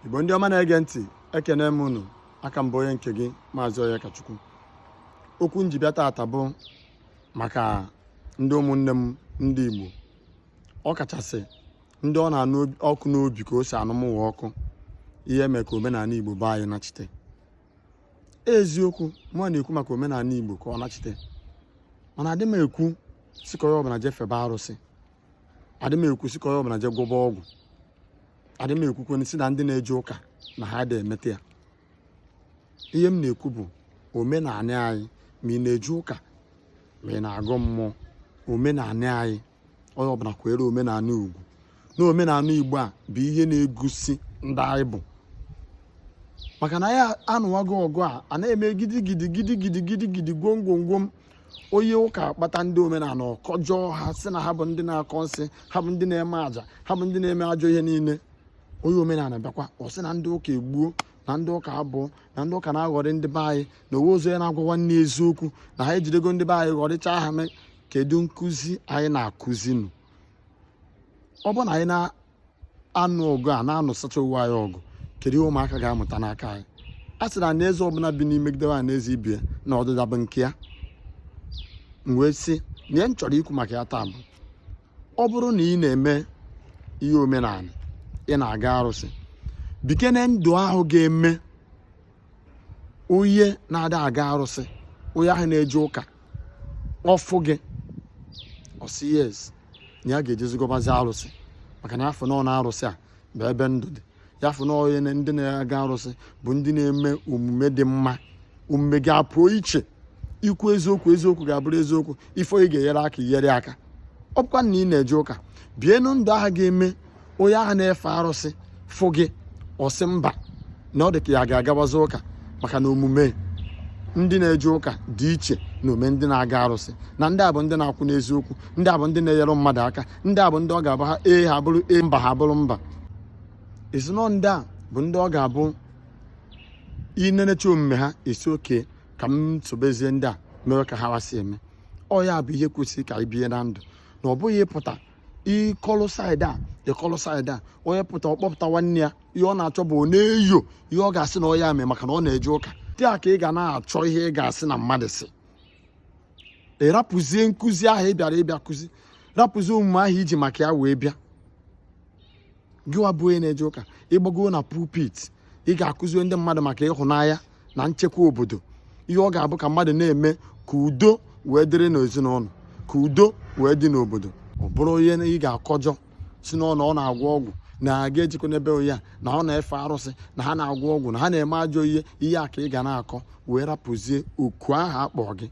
igbo ndị ọma na-ege ntị ekene m unu aka m bụ onye nke gị maazị Onyekachukwu okwu m ji bịa taata bụ maka ndị ụmụnne m ndị igbo ọ kachasị ndị ọ na-anụ ọkụ n'obi ka o si anụ mụwa ọkụ ihe eme ka omenala igbo be anyị nachite eziokwu mụ na-ekwu maka omenala igbo ka ọ nachite mana adị m ekwu sị ka onye ọbụla jee febe arụsị adị m ekwu sị ka onye ọbụla jee gwọba ọgwụ adị m ekwukwe si na ndị na-eje ụka na ha adị emeta ya ihe m na-ekwu bụ omenala anyị ma ị na-eje ụka ma ị na-agọ mmụọ omenala anyị onye ọbụla kwanyere omenala ugwu na omenala igbo a bụ ihe na-egosi ndị anyị bụ maka na anyị anụwago ọgụ a a na-eme gidigidi gidigidi gidigidi gwom gwom gwom onye ụka akpata ndị omenala ọ kọjọọ ha sị na ha bụ ndị na-akọ nsị ha bụ ndị na-eme aja ha bụ ndị na-eme ajọ ihe niile onye omenala bịakwa ọ sị na ndị ụka egbuo na ndị ụka abọọ na ndị ụka na-aghọrị ndị be anyị na o nwezi onye na-agwa nwanne eziokwu na ha ejidego ndị be anyị ghọrịcha ha mee kedu nkụzi anyị na-akụzi nụ ọ bụ na anyị anụ ọgụ a na-anụsacha onwe anyị ọgụ kedu ihe ụmụaka ga-amụta n'aka anyị a sị na anaeze ọbụla binie megidebe anaeze ibe ya na ọdịda bụ nke ya m wee sị na ihe m chọrọ ikwu maka ya taa bụ ọ bụrụ na ị na-eme ihe omenala ị na-aga arụsị bikene ndụ ahụ ga-eme onye na-ada aga arụsị onye ahụ na-eje ụka ọ fụ gị ọ sị yes na ya ga-ejezi gọbazi arụsị maka na ya afụnụ na arụsị a bụ ebe ndụ dị ya afụ na onye na- ndị na-aga arụsị bụ ndị na-eme omume dị mma omume gị apụọ iche ikwu eziokwu eziokwu ga-abụrụ eziokwu ị fụ onye ị ga-enyere aka i nyere aka ọ bụkwa na ị na-eje ụka bienụ ndụ ahụ ga-eme onye ahụ na-efe arụsị fụ gị ọ sị mba na ọ dị ka ya ga-agawazi ụka maka na omume ndị na-eje ụka dị iche na omume ndị na-aga arụsị na ndị a bụ ndị na-akwụ n'eziokwu ndị a bụ ndị na-enyere mmadụ aka ndị a bụ ndị ọ ga-abụ ha ee ha abụrụ ee mba ha abụrụ mba ezinụlọ ndị a bụ ndị ọ ga-abụ i nenecha omume ha ị sị okay ka m sobezie ndị a mere ka hawa si eme ọ ya bụ ihe kwesịrị ka anyị bie na ndụ na ọ bụghị ị pụta ị kọlụ side a ị kọlụ side a onye pụta ọ kpọpụta nwanne ya ihe ọ na-achọ bụ ọ na-enyo ihe ọ ga-asị na ọ ya mee maka na ọ na-eje ụka dị a ka ị ga na-achọ ihe ị ga-asị na mmadụ si ị rapụzie nkụzi ahụ ị bịara ịbịa kụzi rapụzie omume ahụ i ji maka ya wee bịa gịwa bụ onye na-eje ụka ị gbago na pulpit ị ga-akụzi ndị mmadụ maka ịhụnanya na nchekwa obodo ihe ọ ga-abụ ka mmadụ na-eme ka udo wee dịrị n'ezinụlọ ka udo wee dị n'obodo ọ bụrụ onye ị ga-akọjọ si n'ọnụ ọ na-agwọ ọgwụ na-aga ejikọ n'ebe ya na ọ na-efe arụsị na ha na-agwọ ọgwụ na ha na-eme ajọ ihe ihe a ka ị ga na-akọ wee rapụzie oku ahụ akpọ gị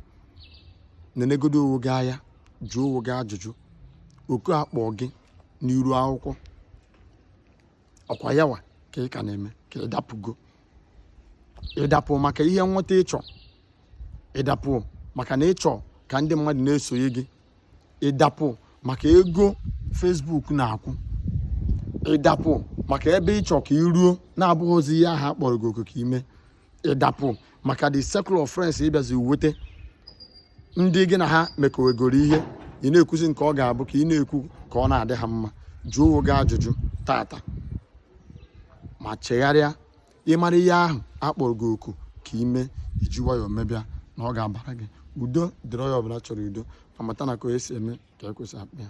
nenegodo onwe gị anya jụọ onwe gị ajụjụ oku akpọ gị n'iru akwụkwọ ọ kwa yawa ka ị ka na-eme ka ị dapụgo ị dapụ maka ihe nweta ị chọ ị dapụ maka na ị chọ ka ndị mmadụ na-esonye gị ị dapụ maka ego Facebook na-akwụ ị dapụ maka ebe ị chọ ka i ruo na-abụghịzi ihe ahụ a kpọrọ gị oku ka i me ị dapụ maka the circle of friends ị bịazi nweta ndị gị na ha mekọwegoro ihe ị na-ekwuzi nke ọ ga-abụ ka ị na-ekwu ka ọ na-adị ha mma jụọ onwe gị ajụjụ tata ma chegharịa ị mara ihe ahụ a kpọrọ gị oku ka i me i ji nwayọọ mebe ya na ọ ga-abara gị udo dịrị onye ọbụla chọrọ udo ma mata na ka onye si eme ka ekwe si akpọ ya